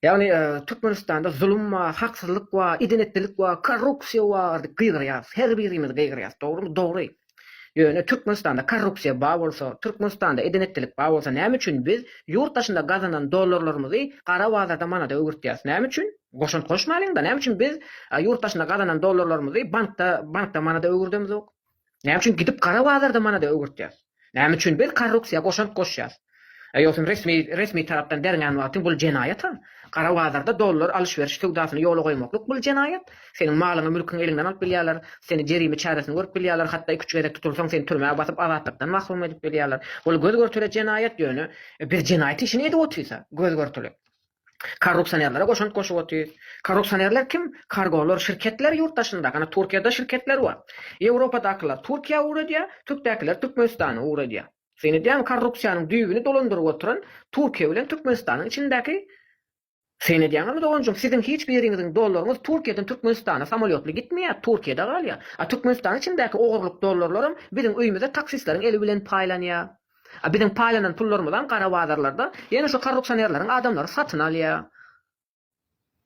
Ýagny Türkmenistanda zulum bar, haksyzlyk bar, idenetlilik bar, korrupsiýa bar diýip gygyrýarys. Her birimiz gygyrýarys, dogrymy? Dogry. Ýöne Türkmenistanda korrupsiýa bar bolsa, Türkmenistanda edenetlilik bar bolsa näme üçin biz ýurt daşynda gazanan dollarlarymyzy gara bazarda manada öwürtýäris? Näme üçin? Goşant goşmalyň-da, näme üçin biz ýurt daşynda gazanan dollarlarymyzy bankda bankda manada öwürdemizok? Näme üçin gidip gara bazarda manada öwürtýäs? Näme üçin biz korrupsiýa goşant goşýas? Eýosyň resmi resmi tarapdan berňän wagtyň bul jenaýata. Gara bazarda dollar alyş-beriş söwdasyny ýola goýmaklyk bul jenaýat. Seniň malyňy mülkiňi eliňden alyp bilýärler. Seni jerime çäresini görüp bilýärler. Hatda iki-üç gezek tutulsaň seni türmä basyp azatlykdan mahrum edip bilýärler. Bul göz görtele jenaýat ýöne biz jenaýat işini edip otyrsa göz görtele. Korrupsionerlere goşant goşup otyr. Korrupsionerler kim? Kargolar şirketler ýurt daşynda, hany Turkiýada şirketler bar. Ýewropadakylar Turkiýa ugradýar, Türkdäkiler Türkmenistana ugradýar. Syn edýäňmi korrupsiýanyň düýbüni dolandyryp oturan Turkiýa bilen Türkmenistanyň içindäki Syn edýäňizmi doganjym siziň hiç biriňiziň dollaryňyz Turkiýadan Türkmenistana samolýotly gitmeýär, Turkiýada galýar. A Türkmenistanyň içindäki ogurlyk dollarlaram biziň öýümize taksistleriň eli bilen paýlanýar. A biziň paýlanan pullarymyzam gara bazarlarda ýene şu korrupsionerleriň adamlary satyn alýar.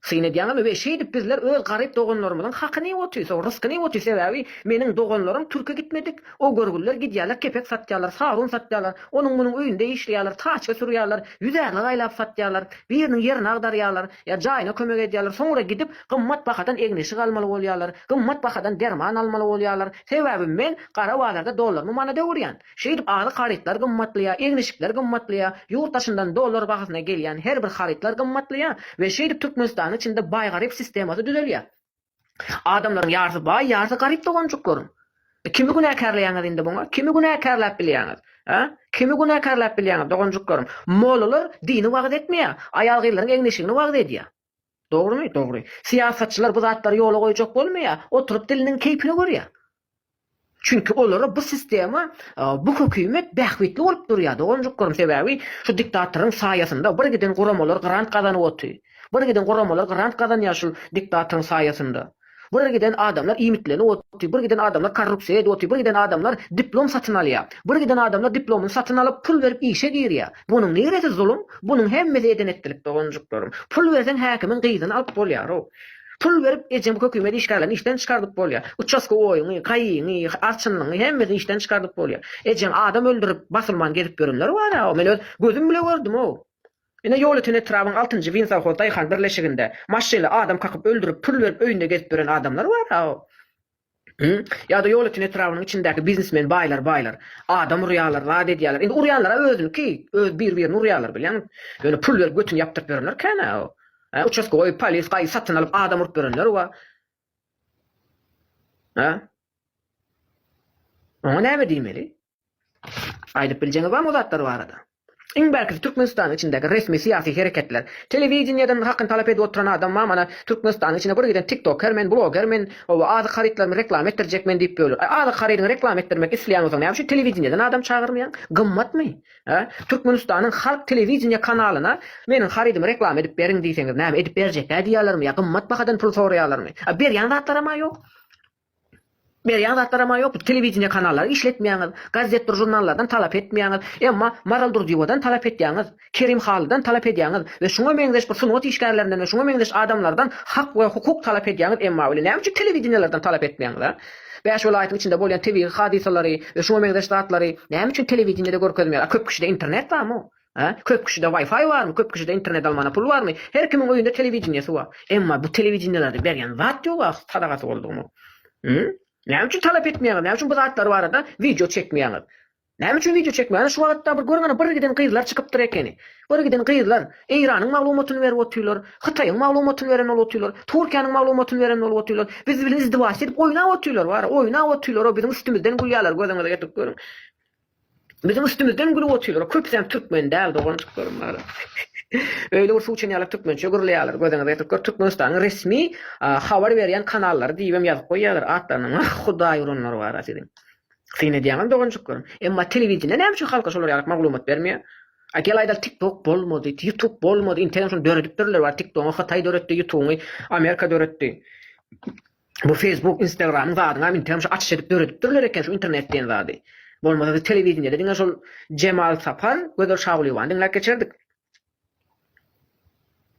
Syn edýäňizmi we şeýdip bizler öz garyp doganlarymyzyň hakyny iýip otyrys, o ryskyny iýip otyrys sebäbi meniň doganlarym türke gitmedik, o görgüliler gidýärler kepek satýarlar, sarun satýarlar, onuň munuň öýünde işleýärler, taçka sürýärler, ýüzärlik aýlap satýarlar, biriniň ýerini agdarýarlar ýa jaýyna kömek edýärler, soňra gidip gymmat bahadan egin-eşik almaly bolýarlar, gymmat bahadan derman almaly bolýarlar, sebäbi men gara bazarda dollarymy manada öwürýän. Şeýdip azyk harytlar gymmatlaýar, egin-eşikler gymmatlaýar, ýurt daşyndan dollar bahasyna gelýän her bir harytlar gymmatlaýar we şeýdip Türkmenistanyň içinde baý-garyp sistemasy düzelýär. Adamlaryň ýarsy baý, ýarsy garyp doganjyklaryň. Kimi günäkärleýäňiz indi muňa? Kimi günäkärläp bilýäňiz? Hä? Kimi günäkärläp bilýäňiz doganjyklaryň? Mollalar dini wagyz etmeýär, aýal-gyzlaryň egin-eşigini wagyz edýär. Dogrymy? Dogry. Syýasatçylar bu zatlary ýola goýjak bolmaýar, oturyp diliniň keýpine görýär. Çünki olara bu sistema, bu hökümet bähbitli bolup durýar doganjyklarym, sebäbi şu diktatoryň saýasynda birgiden guramalar grant gazanyp otyr. Birgiden guramalar grant gazanýar şul diktatoryň saýasynda. Bir giden adamlar iýmitlenip otyr, bir giden adamlar korrupsiýa edip otyr, bir giden adamlar diplom satyn alýar, bir giden adamlar diplomyny satyn alyp pul berip işe girýär. Bunuň niresi zulum? Bunuň hemmesi eden-etdilik doganjyklarym. Pul berseň häkimiň gyzyny alyp bolýar-ow. Pul berip ejem hökümet işgärlerini işden çykardyp bolýar. Uçaskowoýyňy, kaýyňy, arçynlyňy hemmesini işden çykardyp bolýar. Ejeň adam öldürip basulman gezip ýörenler bar-a-ow. Men öz gözüm bile gördüm-ow. Ine ýoly ten etrabyň altynjy Winsawhoz daýhan birleşiginde maşyny adam kakyp öldürip pul berip öýünde gezip ýören adamlar bar a o Hü ýada ýoly ten etrabynyň içindäki biznesmen baýlar baýlar adam urýalar zat edýaler indi urýanlar a özüniki öz bir birini urýalar bilýäň ýöne pul berip götüni ýapdyryp ýörenler kän a o a uçaska goýup polis gaýy satyn alyp adam urup ýörenler wa a oňa näme diýmeli. Aýdyp biljeňiz barmy o zatlar barada? Iň bärkisi Türkmenistanyň içindäki resmi syýasy hereketler. Telewideniýeden hakyny talap edip oturan adam bar mana Türkmenistanyň içine bir giden tiktoker men, bloger men, oba azyk harytlarymy reklama etdirjek men diýip böler. Aý azyk harydyňy reklama etdirmek isleýän bolsaň näme üçin telewideniýeden adam çagyrmaýaň? Gymmatmy? Hä? Türkmenistanyň halk telewideniýe kanalyna meniň harydymy reklama edip beriň diýseňiz näme edip berjek-dä diýýärlermi ýa gymmat bahadan pul soraýarlarmy? A berýän zatlaram-a ýok. Berýän zatlaram-a ýok, telewideniýe kanallary işletmeýäňiz, gazetdir žurnallardan talap etmeýäňiz, emma Maral Durdyýewadan talap edýäňiz, Kerim Halydan talap edýäňiz we şuňa meňzeş bir sungat işgärlerinden we şuňa meňzeş adamlardan hak we hukuk talap edýäňiz, emma weli näme üçin telewideniýelerden talap etmeýäňiz, a? Bäş welaýatyň içinde bolýan tebigy hadysalary we şuňa meňzeş zatlary näme üçin telewideniýede görkezmeýäňiz, a köp kişide internet barmy? Hä? Köp kişide Wi-Fi barmy? Köp kişide internet almana pul barmy? Her kimiň öýünde telewideniýesi bar. Emma bu telewideniýelerde berýän zat ýoga sadagasy boldugymy? Hum? Näme üçin talap etmeýäňiz? Näme üçin bu zatlar barada wideo çekmeýäňiz? Näme üçin wideo çekmeýäňiz? Ana şu wagtda bir görüň ana birgiden gyzlar çykypdyr ekeni. Birgiden gyzlar Eýranyň maglumatyny berip otyrlar, Hytaýyň maglumatyny beren bolup otyrlar, Türkiýäniň maglumatyny beren bolup otyrlar. Biz bilen izdywajyk edip oýnap otyrlar bara, oýnap otyrlar, o biziň üstümizden gülýärler, gözüňize getirip görüň. Biziň üstümizden gülüp otyrlar. Köpüsi hem türkmen däl doganjyklarym bar. Öýle bir suw içen ýaly türkmençe gürleýärler. Gözüňe getirip gör, Türkmenistanyň resmi habar berýän kanallary diýip hem ýazyp goýýarlar. Atlaryna nah Hudaý uranlar bar-a siziň. Syn edýäňiz doganjyklarym. Emma telewideniýe näme üçin halka şolar ýaly maglumat bermeýär? A gel aýdaly TikTok bolmady, YouTube bolmady, interneti şony döredipdirler bar, TikTogy Hytaý döretdi, YouTubeňy Amerika döretdi. Bu Facebook instagramyň zadyňam indem şu açyş edip döredipdirler eken şu internet diýen zady. Bolmasa biz telewideniýede diňe şol Jemal Sapar, Gözel Şagulyýewany diňläp geçerdik.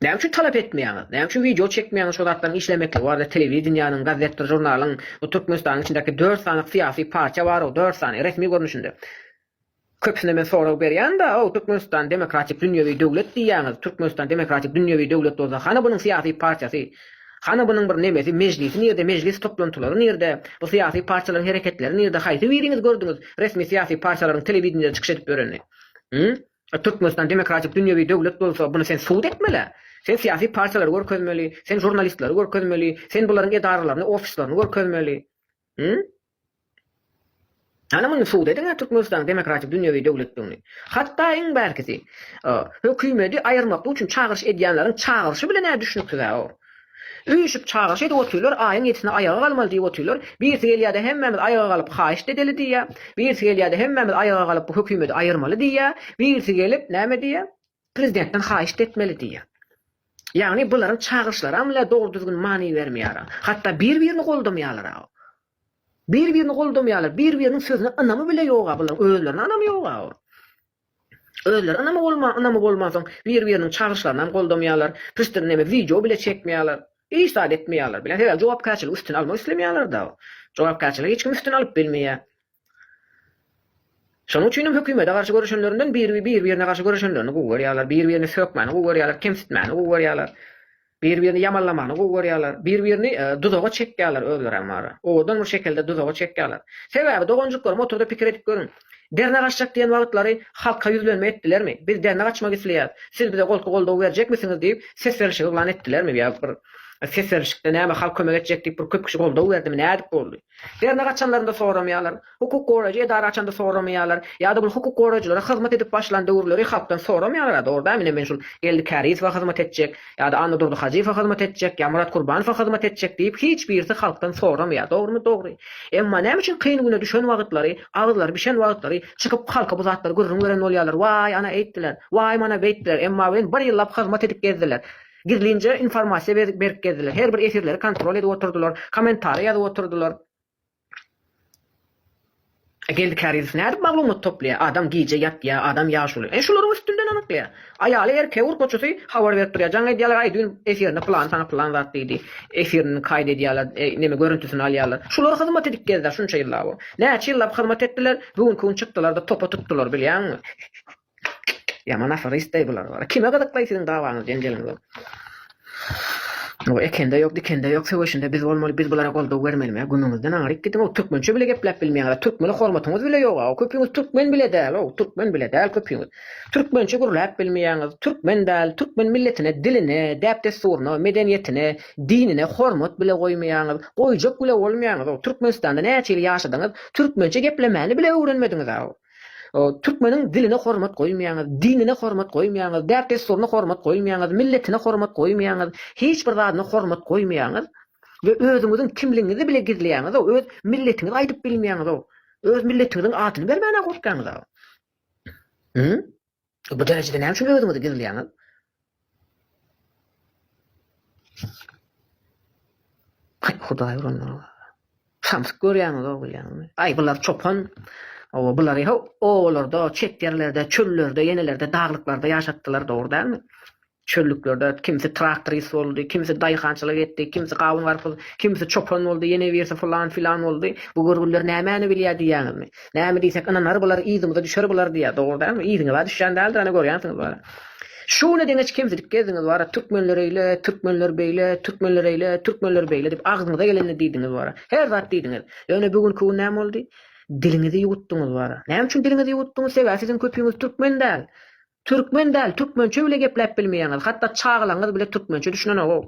Näme üçin talap etmeýäňiz? Näme üçin wideo çekmeýäňiz şu zatlaryň işlemekligi barada telewideniýäniň, gazetdir, žurnalyň, bu Türkmenistanyň içindäki dört sany syýasy partiýa bar-ow, dört sany, resmi görnüşinde. Köpüsine men sorag berýän-da, ow, Türkmenistan demokratik dünýewi döwlet diýýäňiz, Türkmenistan demokratik dünýewi döwlet bolsa, hany bunuň syýasy partiýasy, hany bunuň bir nemesi, mejlisi nirde, mejlis toplantylary nirde, bu syýasy partiýalaryň hereketleri nirde, haýsy biriňiz gördüňiz resmi syýasy partiýalaryň telewideniýede çykyş edip ýörenini? Hum? Türkmenistan demokratik dünýewi döwlet bolsa, buny sen subut etmeli-ä. Sen syýasy partiýalary görkezmeli, sen žurnalistleri görkezmeli, sen bularyň edaralaryny, ofislaryny görkezmeli. Hum? Ana muny subut ediň-ä Türkmenistanyň demokratik dünýewi döwletdigini. Hatda iň bärkisi, hökümedi aýyrmaklyk üçin çagyryş edýänleriň çagyryşy bilen-ä düşnüksiz-ä o. Üýşüp çagyryş edip otyrlar, aýyň ýedisine aýaga galmaly diýip otyrlar. Birisi gelýä-de hemmämiz aýaga galyp haýyşt edeli diýýä. Birisi gelýä-de hemmämiz aýaga galyp bu hökümedi aýyrmaly diýýä. Birisi gelip, näme diýýä? Prezidentden haýyşt etmeli diýýär. Ýagny bularyň çagyryşlaram le dogry düzgün many bermeýara. Hatda bir birini goldamýalara. Bir birini goldamýalar, bir biriniň sözüne ynamy bile ýoga bularyň özlerine ynamy ýoga. Özleri ynamy bolman, ynamy bolman soň bir biriniň çagyryşlarynam goldamýalar, pişdin neme wideo bile çekmeýalar. Hiç zat etmeýalar bile. Sebäbi jogapkärçiligi üstüne almak islemeýalarda. Jogapkärçiligi hiç kim üstüne alyp bilmeýä. Şonuň üçin hem hökümete garşy göreşenlerinden bir-birine garşy göreşenlerini gowy görýärler, bir-birini sökmäni gowy görýärler, kemsitmäni gowy görýärler, bir-birini ýamanlamany gowy görýärler, bir-birini duzaga çekýärler, özlerem bary, owadan bir şekilde duzaga çekýärler. Sebäbi, doganjyklarym, otur-da pikir edip görüň. Derňe gaçjak diýen wagtlary halka ýüzlenme etdilermi? Biz derňe gaçmak isleýäs, siz bize golky goldawy berjekmisiňiz diýip, ses berişigi yglan etdilermi ýa bir ses berişikde näme halk kömek etjek diýip bir köp kişi goldaw berdimi, nädip boldy? Dernek açanlarynda soramaýarlar. Hukuk goraýjy edara açanda soramaýarlar. Ýa-da bul hukuk goraýjylara hyzmat edip başlan döwürleri halkdan soramaýarlar-a, dogry däl, ine men şul Geldi Kärizowa hyzmat etjek, ýa-da Annadurdy Hajyýewa hyzmat etjek, ýa Murat Kurbanowa hyzmat etjek diýip hiç birisi halkdan soramaýar, dogrumy? Dogry. Emma näme üçin kyn güne düşen wagtlary, agyzlary bişen wagtlary çykyp halka bu zatlary gürrüň beren bolýarlar, waý ana eýtdiler, waý mana beýtdiler, emma welin bir ýyllap hyzmat edip gezdiler. Gizlinje informasiýa berip berip gezdiler. Her bir efirleri kontrol edip oturdylar. Kommentariý ýazyp oturdylar. E Geldi Kärizow nädip maglumat toplaýar? Adam gije ýatýar, adam ýaş bolýar. E şularyň üstünden anyklaýar. Aýaly erkek urkaçysy habar berip durýar. Jaň edýärler, aý düýn efirinde pylany saňa pylan zat diýdi. Efirini kaýt edýärler, e, neme görüntüsini alýarlar. Şular hyzmat edip gezdiler şunça ýyllap. Näçe ýyllap hyzmat etdiler, bu günki gün çykdylar-da topa tutdylar, bilýäňmi? Ýaman aferist deý bular wara. Kime gyzyklaý siziň dawaňyz jenjeliňiz. Ow ekende ýok dikende ýok söweşinde biz bolmaly biz bulara goldaw bermelime gümüňizden aňryk gidiň ow türkmençe bile gepläp bilmeýäňizä türkmene hormatyňyz bile ýoga ow köpüňiz türkmen bile däl ow türkmen bile däl köpüňiz türkmençe gürläp bilmeýäňiz türkmen däl türkmen milletine diline däp dessuryna medeniýetine dinine hormat bile goýmaýaňyz goýjak bile bolmaýaňyz ow türkmenistanda näçe ýyl ýaşadyňyz türkmençe geplemäni bile öwrenmediňizä ow. Türkmeniň diline hormat goýmaýaňyz, dinine hormat goýmaýaňyz, däp-dessuryna hormat goýmaýaňyz, milletine hormat goýmaýaňyz, hiç bir zadyna hormat goýmaýaňyz we özüňiziň kimligiňizi bile gizleýäňiz-ow, öz milletiňizi aýdyp bilmeýäňiz-ow, öz milletiňiziň adyny bermäne gorkýaňyz-a. Bu derejede näme üçin özüňizi gizleýäňiz? Ay Hudaý ulanlar. Samsyk görýäňiz o bilýäňizmi? Ay bular çopan. O bulary owalarda, çet ýerlerde, çöllerde, ýenelerde, daglyklarda ýaşatdylar dogry dälmi? Çöllüklerde kimsi traktorist boldy, kimsi daýhançylyk etdi, kimsi gawun-garpyz, kimsi çopan boldy, ýene birsi fylan-filan boldy. Bu görgünler nämäni bilýär diýýäňizmi? Näme diýsek, ynanar bular, yzymyza düşer bular diýýär. Dogry dälmi? Yzyňyza düşýän däldir, ana görýänsiňiz bara. Şu güne deňeç kemsidip gezdiňiz bara, türkmenler eýle, türkmenler beýle, türkmenler eýle, türkmenler beýle diýip agzyňyza gelenini diýdiňiz bara. Her zat diýdiňiz. Ýöne bu günki gün näme boldy? Diliňizi ýuwutdyňyz bara. Näme üçin diliňizi ýuwutdyňyz? Sebäbi siziň köpüňiz türkmen däl. Türkmen däl türkmençe bile gepläp bilmeýäňiz hatda çagalaňyz bile türkmençe düşünenogow.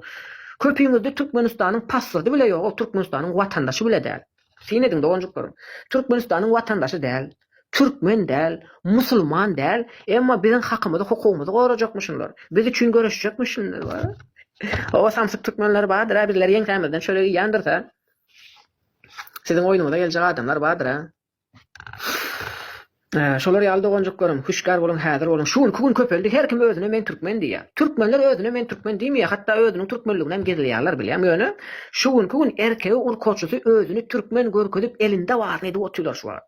Köpüňizde Türkmenistanyň paswrdy bile ýogow Türkmenistanyň watandaşy bile däl. Syn ediň doganjyklarym. Türkmenistanyň watandaşy däl, türkmen däl, musulman däl emma biziň hakymyzy hukugymyzy gorajakmy şunlar. Biz üçin göreşjekmi şunlar wa. Oba samsyk türkmenler bardyra bizleri ýeňsämizden çörek iýýändirsa. Siziň oýnuňyza geljek adamlar bardyra. Şolar ýaly doganjyklarym, hüşgär boluň häzir boluň, şu günki gün köpeldi her kim özüne men türkmen diýýär. Türkmenler özüne men türkmen diýmeýär hatda özüniň türkmenliginem gizleýärler bilýäň ýöne şu günki gün erkegi urkaçysy özüni türkmen görkezip elinde baryny edip otylar şu wagt.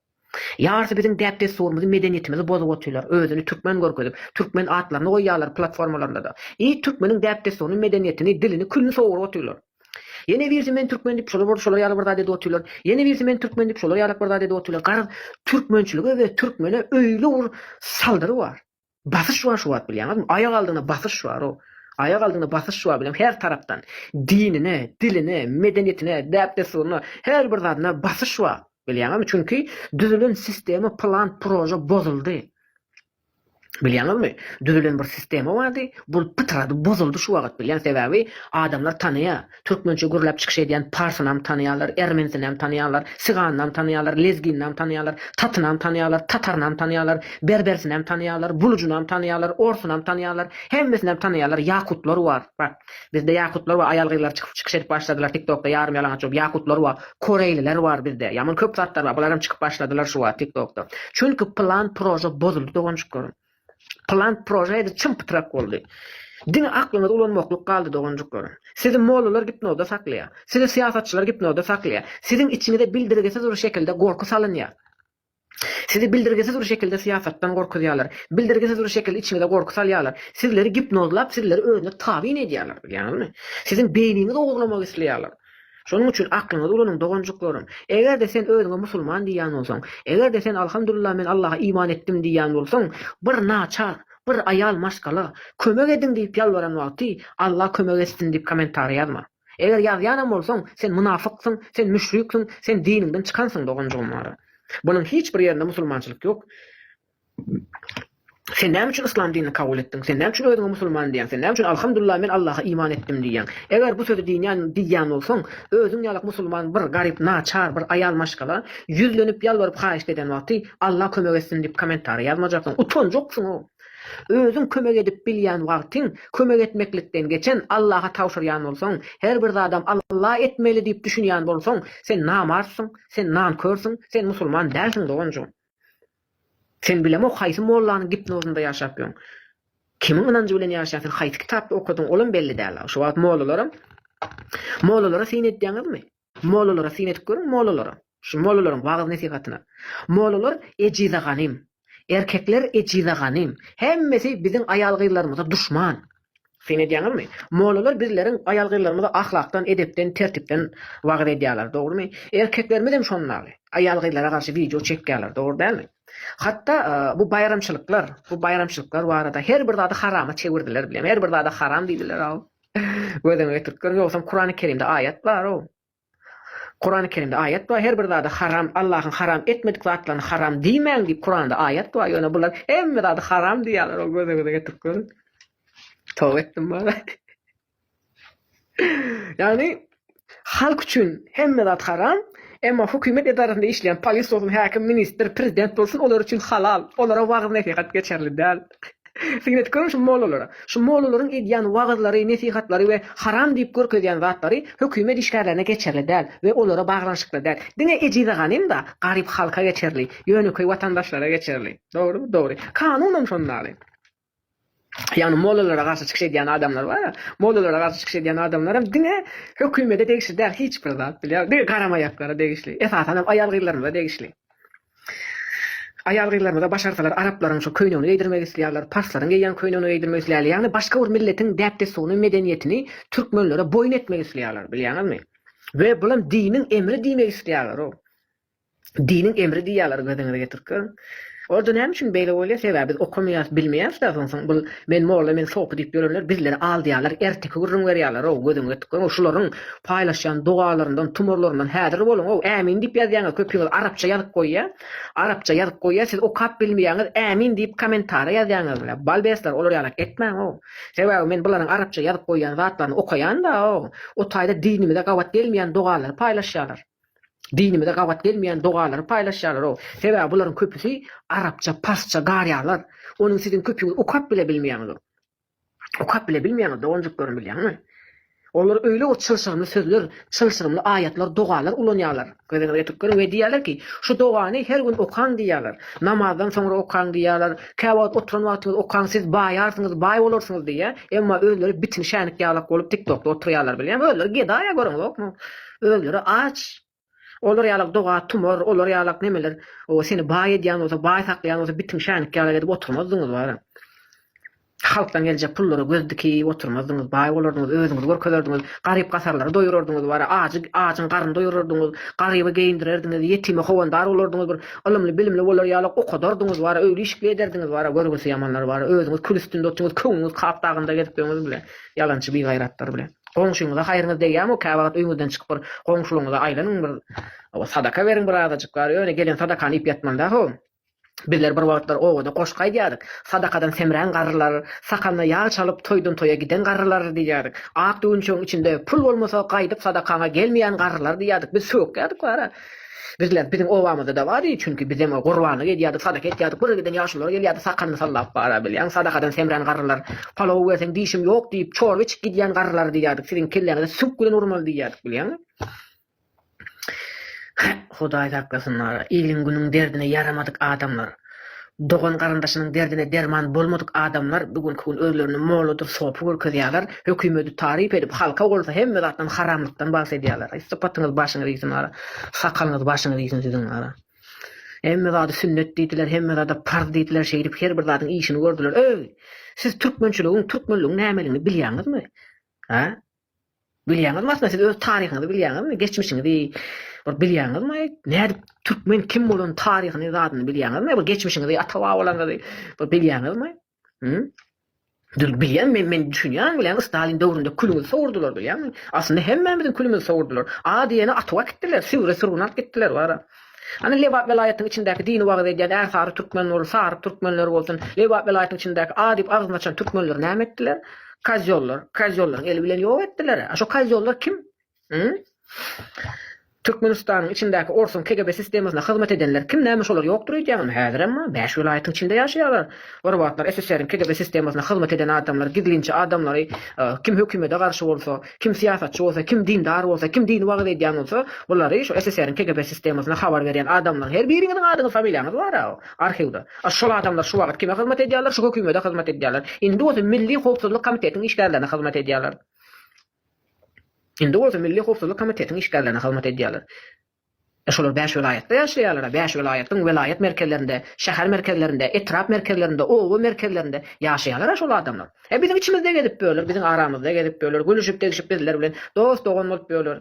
Ýarysy biziň däp dessurymyzy medeniýetimizi bozup otylar özüni türkmen görkezip türkmen atlaryny goýýarlar platformalarynda-da. Iýit türkmeniň däp dessuryny medeniýetini dilini külini soguryp otylar. Ýene birisi men türkmen diýip şolar boldy şolar ýaly bir zat edip otyrlar. Ýene birisi men türkmen diýip şolar ýalak bir zat edip otyrlar. Garaz türkmençilige we türkmene öýle bir saldyry bar. Basyş bar şu wagt bilýäňizmi? Aýak aldyna basyş bar o. Aýak aldyna basyş bar bilen her tarapdan. Dinine, diline, medeniýetine, däp-dessuryna, her bir zadyna basyş bar. Bilýäňizmi? Çünki düzülen sistema, plan, proje bozuldy. Bilýäňizmi, düzülen bir sistema bardy, bul pytrady, bozuldy şu wagt, bilýän sebäbi adamlar tanaýar, türkmençe gürläp çykyş edýän parsynam tanaýarlar, ermenisinäm tanaýarlar, sigannam tanaýarlar, lezginnam tanaýarlar, tatynam tanaýarlar, tatarynam tanaýarlar, berbersinem tanaýarlar, bulujynam tanaýarlar, orsynam tanaýarlar, hemmesinäm tanaýarlar, ýakutlar bar. Bizde ýakutlar we aýal gyzlar çykyp çykyş edip başladylar tiktokda ýarym ýalaňaç bolup ýakutlar we koreýliler bar bizde ýaman köp zatlar bar bularam çykyp başladylar şu wagt tiktokda çünki plan proža bozuldy doganjyklaryň plan proža edi çym pytrak boldy diňe aklyňyzy ulanmaklyk galdy doganjyklaryň sizi mollalar gipnozda saklaýar sizi syýasatçylar gipnozda saklaýar siziň içiňize bildirgisiz bir şekilde gorky salynýar Sizi bildirgisiz bir şekilde syýasatdan gorkuzýarlar. Bildirgisiz bir şekilde içiňize gorky salýarlar. Sizleri gipnozlap, sizleri özüne tabyn edýärler. Bilýäňizmi? Siziň beýniňizi ogurlamak isleýärler. Şonuň üçin aklyňyzy ulanyň, doganjyklarym. Eger-de sen özüňe musulman diýýän bolsaň, eger-de sen Alhamdulillah men Allaha iman etdim diýýän bolsaň, bir naçar, bir aýal maşgala, kömek ediň diýip ýalbaran wagty, Allah kömek etsin diýip kommentariýa ýazma. Eger ýazýanam bolsaň, sen mynafyksyň, sen müşriksiň, sen diniňden çykansyň doganjygym wara. Bunuň hiç bir ýerinde musulmançylyk ýok. Sen näme üçin yslam dinini kabul etdiň? Sen näme üçin özüňe musulman diýýäň? Sen näme üçin Alhamdullah men Allaha iman etdim diýýäň? Eger bu sözi diýýän diýýän bolsaň, özüň ýalak musulman bir garyp naçar bir aýal maşgala ýüzlenip ýalbaryp haýyşt eden wagty Allah kömek etsin diýip kommentariýa ýazmajaksyň. Utanjaksyň-ow. Özüň kömek edip bilýän wagtyň kömek etmeklikden geçen Allaha tabşyrýan bolsaň, her bir zadam Alla etmeli diýip düşünýän bolsaň, sen namartsyň, sen nankörsüň, sen musulman dälsiň doganjygym. Sen bilemok haýsy mollanyň gipnozynda ýaşap ýörüň. Kimiň ynanjy bilen ýaşaýaň sen haýsy kitapda okadyň olam belli däl. Şu wagt mollalaram mollalara syn edýäňizmi? Mollalara syn edip görüň, mollalara. Şu mollalaryň wagyz-nesihatyna. Mollalar ejize ganym. Erkekler ejize ganym. Hemmesi biziň aýal-gyzlarymyza duşman. Syn edýäňizmi? Mollalar bizleriň aýal-gyzlarymyza ahlakdan, edepden, tertipden wagyz edýärler, dogrumy? Erkeklerimiz hem şonuň ýaly. Aýal-gyzlara garşy wideo çekýärler, dogry dälmi? Hatda bu baýramçylyklar, bu baýramçylyklar barada her bir zady harama çewirdiler, bilemok. Her bir zada haram diýdiler-ow. Gözüňe getirip gör, ýogsam Kurany Kerimde aýat bar-ow. Kurany Kerimde aýat bar, her bir zady haram, Allahyň haram etmedik zatlaryny haram diýmäň diýip Kuranda aýat bar, ýöne bular hemme zady haram diýýärler-ow, gözüňize getirip görüň. Toba etdim bara. Ýagny, Halk üçin hemme zat haram, emma hökümet edarasynda işleýän polis bolsun, häkim, ministr, prezident bolsun olar üçin halal. Olara wagyz-nesihat geçerli däl. Syn edip görüň şu mollalara. Şu mollalaryň edýän wagyzlary, nesihatlary we haram diýip görkezýän zatlary hökümet işgärlerine geçerli däl we olara baglanyşykly däl. Diňe ejize ganym-da, garyp halka geçerli, ýönekeý watandaşlara geçerli. Dogrumy? Dogry. Kanunam şondaly. Ýagny mollalara garşy çykyş edýän adamlar bar. Mollalara garşy çykyş edýän adamlaram diňe hökümede degişli däl hiç bir zat bilýär. Diňe garamaýaklara degişli. Esasanam aýal-gyzlarymyza degişli. Aýal-gyzlarymyza başarsalar araplaryň şu köýnegini geýdirmek isleýärler, parslaryň geýýän köýnegini geýdirmek isleýärler. Ýagny başga bir milletiň däp-dessuny, medeniýetini türkmenlere boýun etmek isleýärler, bilýäňizmi? We bulam diniň emri diýmek isleýärler-ow. Diniň emri diýýärler göziňize getirip görüň. Orda näme üçin beýle bolýar sebäbi biz okamaýas bilmeýäs da soň soň bul men molla men sopy diýip ýörenler bizleri aldyýarlar erteki gürrüň berýärlerow göziňiz getip görüň şularyň paýlaşýan dogalaryndan tumarlaryndan häzir boluňow ämin diýip ýazýaňyz köpiňiz arapça ýazyp goýýa arapça ýazyp goýýa siz okap bilmeýäňiz ämin diýip kommentara ýazýaňyz bile balbesler olar ýalak etmäňow sebäbi men bularyň arapça ýazyp goýýan zatlaryny okaýan da ow o taýda dinimize gabat gelmeýän dogalary paýlaşýarlar. Dinimize gabat gelmeýän dogalary paýlaşýarlar-ow. Sebäbi bularyň köpüsi arapça, parsça garýarlar. Onuň siziň köpüňiz okap bile bilmeýäňiz-ow. Okap bile bilmeýäňiz doganjyklarym bilýäňmi? Olar öýle bir çylşyrymly sözler, çylşyrymly aýatlar, dogalar ulanýarlar. Gözüňizi ýetirip görüň we diýýärler ki, şu dogany her gün okaň diýýärler. Namazdan soňra okaň diýýärler. Käwagt oturan wagtyňyz okaň siz baýarsyňyz, baý bolarsyňyz diýýär. Emma özleri bitin şänik ýalak bolup tiktokda oturýarlar bilýäňmi? Özleri gedaýa görüň zokmy? Özleri aç. Olar ýalak doga tumar, olar ýalak nemeler, o seni baý edýän bolsa, baý saklaýan bolsa bitiň şänik ýalak edip oturmazdyňyz bara. Halkdan geljek pullara göz dikip oturmazdyňyz, baý bolardyňyz, özüňizi görkezerdiňiz, garyp-gasarlary doýurardyňyz bara, ajy ajyň garyny doýurardyňyz, garyby geýindirerdiňiz, ýetime howandar bolardyňyz bir, ylymly-bilimli bolar ýalak okadardyňyz bara, öýli-işikli ederdiňiz bara, görgüsi ýamanlar bara, özüňiz kül üstünde otyňyz, köňlüňiz kap dagynda gezip ýöňüz bile, ýalançy bigaýratlar bile. Goňşyňyza haýryňyz degýärmi, käwagt öýüňizden çykyp bir goňşylygyňyza aýlanyň, bir sadaka beriň bir azajyk bary, ýöne gelen sadakany iýip ýatmaňda how. Bizler bir wagtlar obada goşgy aýdýardyk, Sadakadan semrän garrylar, sakanyna ýag çalyp toýdan toýa giden garrylar diýýärdik. Ak düwünçegiň içinde pul bolmasa gaýdyp sadakaňa gelmeýän garrylar diýýärdik. Biz sökýärdik bara. Bizler, biziň obamyzda-da bar diýdi, çünki biz hem gurbanlyk edýärdik, sadaka etýärdik, bir giden ýaşulular gelýärdi, sakalny sallap bara bilýän, sadakadan semrän garrylar, palaw berseň dişim ýok diýip, çorba içip gidýän garrylar diýýärdik, siziň kelläňize süňk bilen urmaly diýýärdik, bilýäňmi? Hudaý saklasyn, iliň-günüň derdine ýaramadyk adamlar. Dogan-garyndaşynyň derdine derman bolmadyk adamlar bu günki gün özlerini molladyr sopy görkezýärler, hökümedi taryp edip, halka bolsa hemme zatdan haramlykdan bahs edýärler. Aý sypatyňyz başyňyz iýsin wara, sakalyňyz başyňyz iýsin siziň wara. Hemme zady sünnet diýdiler, hemme zada parz diýdiler, şeýdip her bir zadyň işini gördüler. Öý! Siz türkmençiligiň, türkmenligiň nämeligini bilýäňizmi? Hä? Bilýäňizmi aslynda siz öz taryhyňyzy bilýäňizmi? Geçmişiňizi bir bilýäňizmi? Nädip türkmen kim bolan taryhyny zadyny bilýäňizmi? Bir geçmişiňizi, ata babalaryňyzy bir bilýäňizmi? Hü? Dür bilýän men men düşünýän bilen Stalin döwründe külüňizi sowurdylar bilýäňmi? Aslynda hemmämiziň külümizi sowurdylar. A diýeni atyp akitdiler, sügre sürgün alyp gitdiler bara. Hany Lebap welaýatynyň içindäki dini wagyz edýän Ärsary türkmen bolup, Sary türkmenleri bolsun, Lebap welaýatynyň içindäki A diýip agzyny açan türkmenleri näme etdiler? Kozýollar, kozýollaryň eli bilen ýok etdiler-ä. A şo kozýollar kim? Hym? Türkmenistanyň içindäki orsuň KGB sistemasyna hyzmat edenler kim? Näme şolar ýokdur öýdýäňizmi? Häzirem-ma, bäş welaýatyň içinde ýaşaýarlar. Bir wagtlar SSR-iň KGB sistemasyna hyzmat eden adamlary, gizlinçi adamlary, kim hökümete garşy bolsa, Kim syýasatçy bolsa, kim dindar bolsa, kim dini wagyz edýän bolsa, bulary şu SSR-iň KGB sistemasyna habar berýän adamlaryň her biriňiziň adyňyz, familiýaňyz bar-a arhiwde. A şol adamlar şu wagyt kime hyzmat edýärler? Şu hökümede hyzmat edýärler. Indi bolsa Milli howpsuzlyk komitetiň işgärlerine hyzmat edýärler. Indi bolsa Milli howpsuzlyk komitetiň işgärlerine hyzmat edýärler. Şolar bäş welaýatda ýaşaýarlar-a, bäş welaýatyň welaýat merkezlerinde, şäher merkezlerinde, etrap merkezlerinde, oba merkezlerinde ýaşaýarlar-a şol adamlar. He, biziň içimizde gezip ýörler, biziň aramyzda gezip ýörler, gülüşip-degşip bizler bilen dost-dogan bolup ýörler.